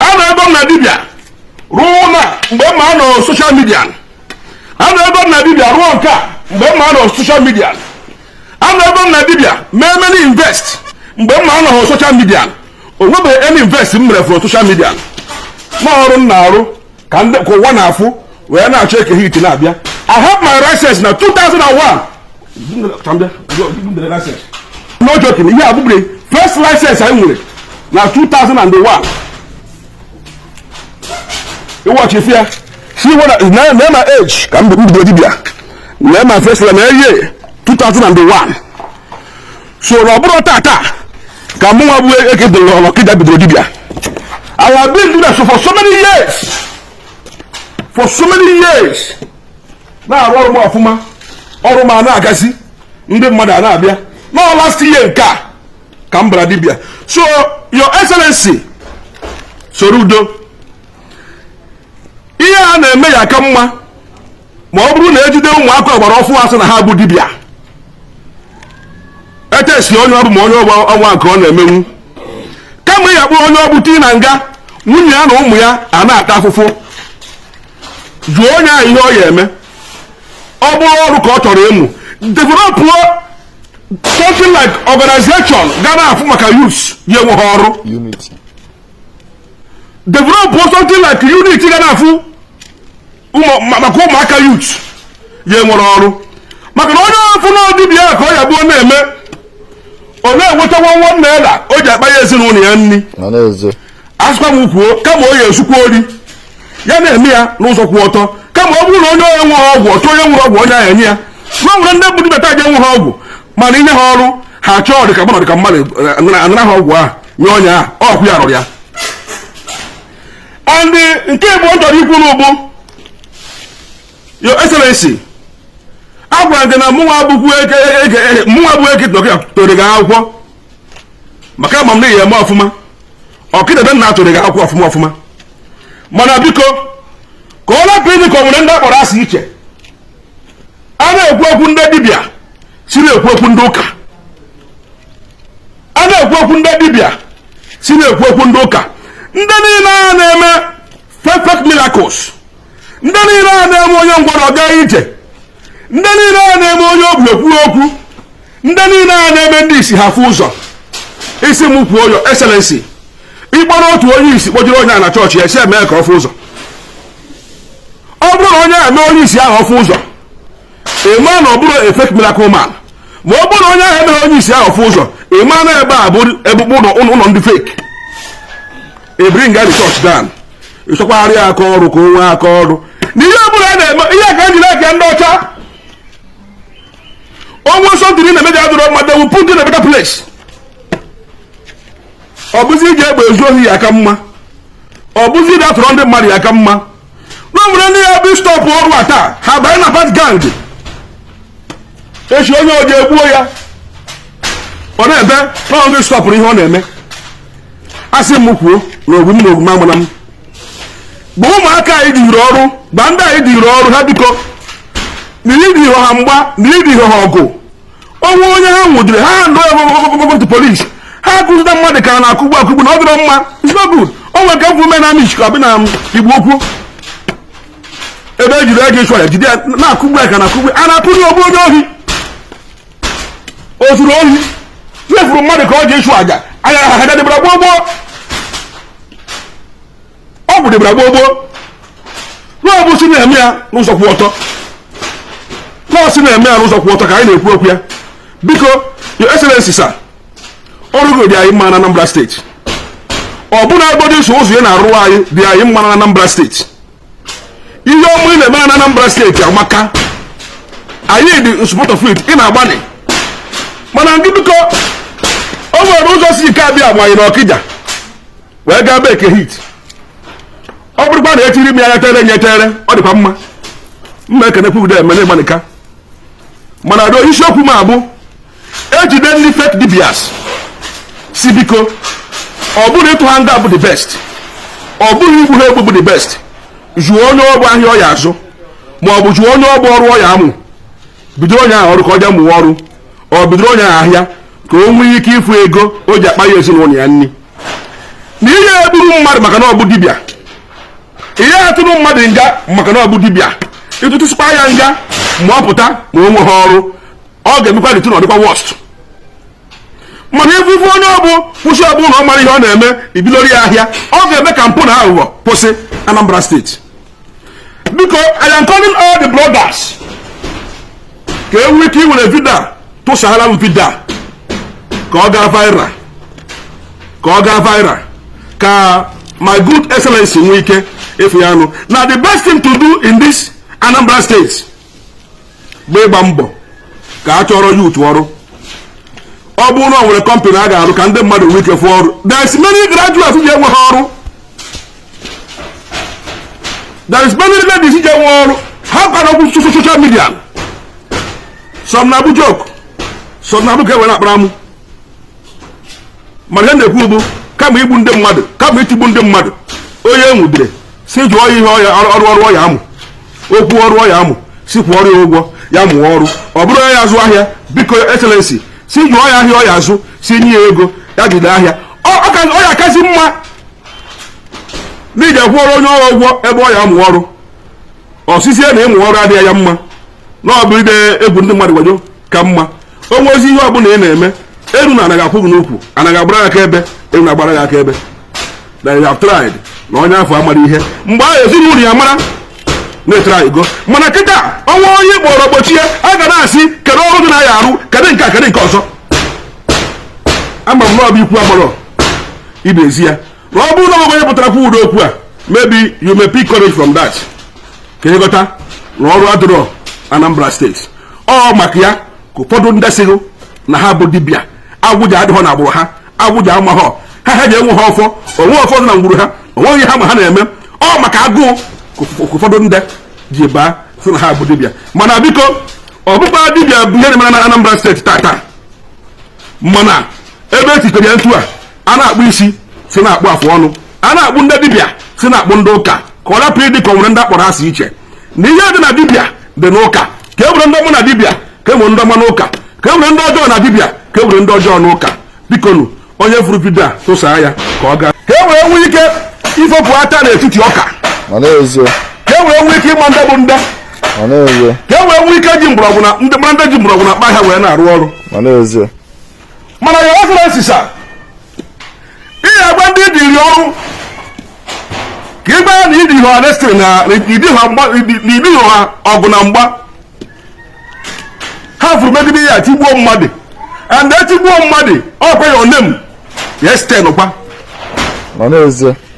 anọgo m na dibịa rụọ na mgbe m anọ social media anọgo m na dibịa rụọ nke a mgbe m anọ social media anọgo m na dibịa mee many invest mgbe m anọghị social media o nwebeghị any invest m mere from social media na ọrụ m na-arụ ka ụwa na-afụ wee na-achọ eke hit na-abịa I have my license na 2001 no joking ihe a bụbụrụ first license anyị nwere na 2001 ị watch ife a see na my age ka m bido dibia na my face na year 2001 so na ọ bụrọ tata ka mụ nwa bụ eke dịrị okija bidoro dibia I have been doing that so for so many years for so many years na-arụ ọrụ m ọfụma ọrụ m a na-agazi ndị mmadụ a na-abịa no last year nke a ka m bara dibịa so your excellency soludo ihe a na-eme ya aka mma ma ọ bụrụ na ejide ụmụaka ọgbara ọfụụ asị na ha bụ dibịa e test onye ọ bụ ma o nwekwa nke ọ na-emenwu kama ị ya kpụrụ onye ọ bụ tii na nga nwunye ya na ụmụ ya a na-ata afụfụ jụọ onye ahụ ihe ọ ya eme ọ bụrụ ọrụ ka ọ chọrọ ịmụ develop something like organization ga na-afụ maka youths ya enweghị ọrụ develop something like unit ga na-afụ maka ụmụaka youth ya enwere ọrụ maka na onye afụ na dibia ka ọ ya abụ ọ na-eme ọ na-enweta one one naira o ji akpa ya ezinụlọ ya nri a sịkwa m kwuo kama o ya ezukwa ori ya na-eme ya n'ụzọ kwụ ọtọ kama ọ bụrụ na onye onye nwere ọgwụ ọ chọọ onye nwere ọgwụ onye ahụ enye ya na nwere ndị bụ dibịa aja enwe ha ọgwụ mana inye ha ọrụ ha chọọ dịka mmadụ dịka mmadụ eh, anara ha ọgwụ ahụ nye onye ahụ ọkwụ ya rụrụ ya and nke abụọ chọrọ ikwu nụ bụ your excellency a gwara gị na mụnwa abụkwu eke mụnwa bụ eke tụọrọ gị akwụkwọ maka ama m na ị ya eme ọfụma okija be nna tụọrọ gị akwụkwọ ọfụma ọfụma mana biko ka ọ lapụ ịdị ka ọ nwere ndị a kpọrọ asị iche a na-ekwu okwu ndị dibịa si na-ekwu okwu ndị ụka a na-ekwu okwu ndị dibịa si na-ekwu okwu ndị ụka ndị niile a na-eme fake miracles ndị niile a na-eme onye ngwọrọ gaa ije ndị niile a na-eme onye ogbi ekwuo okwu ndị niile a na-eme ndị isi ha fụ ụzọ ị sị m kwuo your excellency ị kpọrọ otu onye isi kpọjere onye a na chọọchị ya sị mee ka ọ fụ ụzọ ọ bụrụ na onye a mee onye isi ahụ ọ fụ ụzọ ị ma na ọ bụrọ a fake miracle man ma ọ bụrụ na onye ahụ emeghị onye isi ahụ ọ fụ ụzọ ị ma na ebe a bụ ebe okpu ụlọ ndị fake ebringa the church down ịchọkwagharị ya aka ọrụ ka o nwee aka ọrụ na ihe ọbụla a na-eme ihe ka m jiri like ndị ọcha o nwee something ị na-eme ji adịrọ mma they will put you in a better place ọ bụzi iji egbe ezu ohi ya aka mma ọ bụzi iji atọrọ ndị mmadụ ya aka mma na o nwere ndị ya bụ stop ọrụ a taa ha banye na bad gang echi onye oji egbuo ya ọ na-ebe na ọ ndị stọpụrụ ihe ọ na-eme asị m kwuo na ogbu m na ogbu m amụna m gba ụmụaka anyị dịrị ọrụ gba ndị anyị dịrị ọrụ ha biko na ịdị ihe ha mgba na ịdị ihe ha ọgụ o nwee onye ha nwụdiri ha hand over to police ha akụzita mmadụ ka na-akụgbu akụgbu na ọ dịrọ mma it's not good o nwere nke m fụ na Amichi ka ọ bụ na Igbo-Ukwu ebe ejiri ego ịchụ ya jide ya na-akụgbu ya ka na-akụgbu a na-akụgbu onye ohi o zuru ohi tiefuru mmadụ ka ọ ji ịchụ aja aja a dịbara gboo gboo ọgwụ dịbara gboo gboo na ọ bụ si na-eme ya n'ụzọ kwụ ọtọ na ọ si na-eme ya n'ụzọ kwụ ọtọ ka anyị na-ekwu okwu ya biko your excellency sir ọrụ gị dị anyị mma na Anambra steeti ọ bụrụ na agbado iso ụzọ ị na-arụ anyị dị anyị mma na Anambra steeti ihe ọma ị na-eme na Anambra steeti amaka anyị dị in support of it ị na-agbanị mana ndị biko o nwere ụzọ si ike abịa agbanye na Ọkịja wee gaa be Eke Hit ọ bụrụkwa na etiri m ya nyetere nyetere ọ dịkwa mma mma ekenekwu ude emele gbanika mana do isiokwu m abụ ejide ndị fake dibias si biko ọ bụrụ ịtụ ha nga bụ the best ọ bụrụ igbu ha egbu bụ the best jụọ onye ọ bụ ahịa ọ ya azụ ma ọ bụ jụọ onye ọ bụ ọrụ ọ ya amụ bidoro onye ahụ ọrụ ka ọ jee mụwa ọrụ or bidoro onye ahụ ahịa ka o nwee ike ịfụ ego o ji akpanye ezinụlọ ya nri na ihe egburu mmadụ maka na ọ bụ dibịa ihe atụrụ mmadụ nga maka na ọ bụ dibịa ịtụtụsịkwa ya nga ma ọ pụta ma o nweghị ọrụ ọ ga-emekwa dịtụ na ọ dịkwa worst mana ebe ife onye ọ bụ kwụsị ọ bụ na ọ mara ihe ọ na-eme ibidoro ya ahịa ọ ga-eme ka mpụ na aghụghọ kwụsị Anambra steeti biko I am calling all the bloggers ka e nwee ike iwere video a tụsara m video a ka ọ gaa viral ka my good excellency nwee ike ịfụ ya anụ na the best thing to do in this Anambra state bụ ịgba mbọ ka a chọrọ youth ọrụ ọ bụrụ na ọ nwere company a ga-arụ ka ndị mmadụ nwee ike fụọ ọrụ there is many graduates ji enweghị ọrụ there is many ladies ji enwe ọrụ ha kpara okwu so- so- social media some na-abụ joke some na-abụ ka e were akpara amụ mana ihe na-ekwu bụ kama igbu ndị mmadụ kama itigbu ndị mmadụ onye enwudere si jụọ ya ihe ọ ya-arụ ọrụ ọ ya-amụ o kwuo ọrụ ọ ya-amụ si kwụọrọ ya ụgwọ ya mụọ ọrụ ọ bụrụ onye ya-azụ ahịa biko excellency si jụọ ya ahịa ọ ya-azụ si nye ya ego ya jide ahịa ọ ya-akazi mma na ije kwụọrọ onye ọrụ ụgwọ ebe ọ ya-amụ ọrụ ọ sịzie na ịmụ ọrụ adịghị ya mma na ọ bụ ide egwu ndị mmadụ wayo ka mma o nwezi ihe ọ bụla ị na-eme elu na ana ga-akwụ gị n'ukwu ana ga-agbara gị akaebe elu na-agbara gị akaebe na you have tried na onye afụ amarọ ihe mgbe ahụ ezinụlọ ya mara na ị traịgo mana kịta ọnwa onye kpọrọ gbochie a ga na-asị kedu ọrụ dịnụ a ya-arụ kedu nke a kedu nke ọzọ ama m na ọ bụ ikwu amarọ ibe ezi ya ma ọ bụrụ na o nwe onye pụtara kwuo ụdị okwu a maybe you may pick courage from that ka ị ghọta na ọrụ adịrọ Anambra steeti ọ maka ya ka ụfọdụ ndị sịrị na ha bụ dibịa agwụ adịghọ na agbụrụ ha agwụ amaghọ ha ha enweghọ ọfọ o nweghọ ọfọ dị na ngwuru ha o nweghị ihe ha ma ha na-eme ọ maka agụụ ka ụfọdụ ndị ji baa sị na ha bụ dibịa mana biko ọ bụkwa dibịa bụ ihe na-emere na Anambra steeti tata mana ebe e tikere nta a a na-akpụ isi si na-akpụ afụ ọnụ a na-akpụ ndị dibịa si na-akpụ ndị ụka ka ọ rapụ ịdị ka o nwere ndị a kpọrọ asị iche na ihe dị na dibịa dị n'ụka ka e nwere ndị ọma na dibịa ka e nwere ndị ọma n'ụka ka e nwere ndị ọjọọ na dibịa ka e nwere ndị ọjọọ n'ụka bikonu onye fụrụ vidio a tụsaa ya ka ọ gaa ka e were nwee ike ifopụ ata n'etiti ọka ka e were nwee ike ịma ndị bụ ndị ka e wee nwee ike ji mgbọrọgwụ na ndị mara ndị ji mgbọrọgwụ na mkpa ahịhịa wee na-arụ ọrụ mana ya ọfụrụ esisa ihe agba ndị dịrị ọrụ ka ịgba ya na ịdị ha ọdestịrị na ịdị ha ọgụ na mgba ha fụrụ megide ya tigbuo mmadụ and etigbuo mmadụ ọkwa ya onem ya site n'ụkwa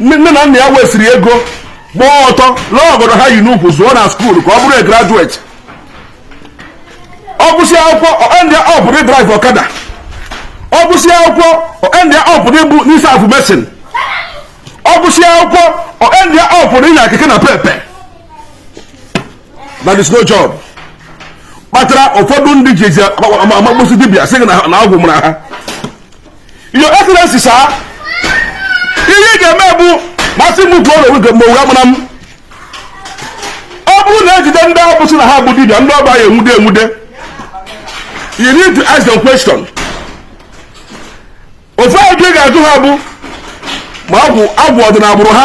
nne na nna ya wesịrị ego gbaa ọtọ lụọ ọgọdọ ha yi n'ukwu zụọ na school ka ọ bụrụ a graduate ọ gụsịa akwụkwọ ndị ọ pụrụ ịdrive ọkada ọ gụsịa akwụkwọ ndị ọ pụrụ ịbụ n'isi afụ machine ọ gụsịa akwụkwọ ndị ọ pụrụ ịnya keke napep there is no job kpatara ụfọdụ ndị ji ezi amagbosi dibịa sị na agwụ mara ha Your Excellency, sir, ihe ị ga-eme bụ ma a sị m kwuo na oge mgbe amara m ọ bụrụ na e jide ndị afụ sị na ha bụ dibịa ndị ọ bụ a ya-enwude enwude you need to ask them question ife mbụ ị ga-ajụ ha bụ ma agwụ agwụ ọ dị n'agbụrụ ha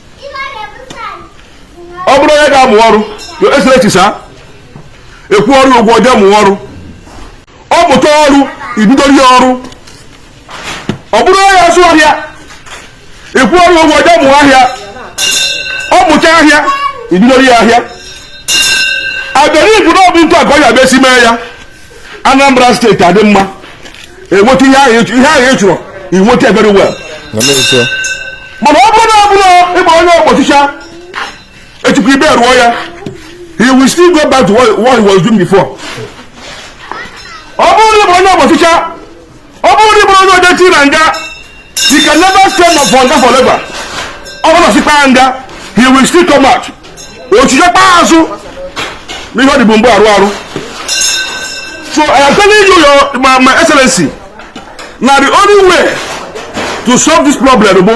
ọ bụrụ onye ga-amụ ọrụ excellency sir a kwụọrọ ụgwọ jee mụọ ọrụ ọ mụta ọrụ ebidoro ya ọrụ ọ bụrụ onye ya-azụ ahịa a kwụọrọ ụgwọ jee mụọ ahịa ọ mụcha ahịa ebidoro ya ahịa I believe na ọ bụ otu a ka ọ ya-abụ esi mee ya Anambra steeti adị mma enweta ihe ahụ ị chọrọ inweta very well mana ọ bụrụ na ọ bụrụ ịgba onye ọkpọchicha echi e bail ya he will still go back to what, what he was doing before ọ bụrụ na ịgba onye ọkpọchicha ọ bụrụ na i buru onye odechi na nga he can never stay na for nga forever ọ bụrụ na sikpa ya nga he will still come out ọ chighakwa azụ na ihe ọ dịbu mgbe arụ arụ so i am telling you your my, my excellency na the only way to solve this problem bụ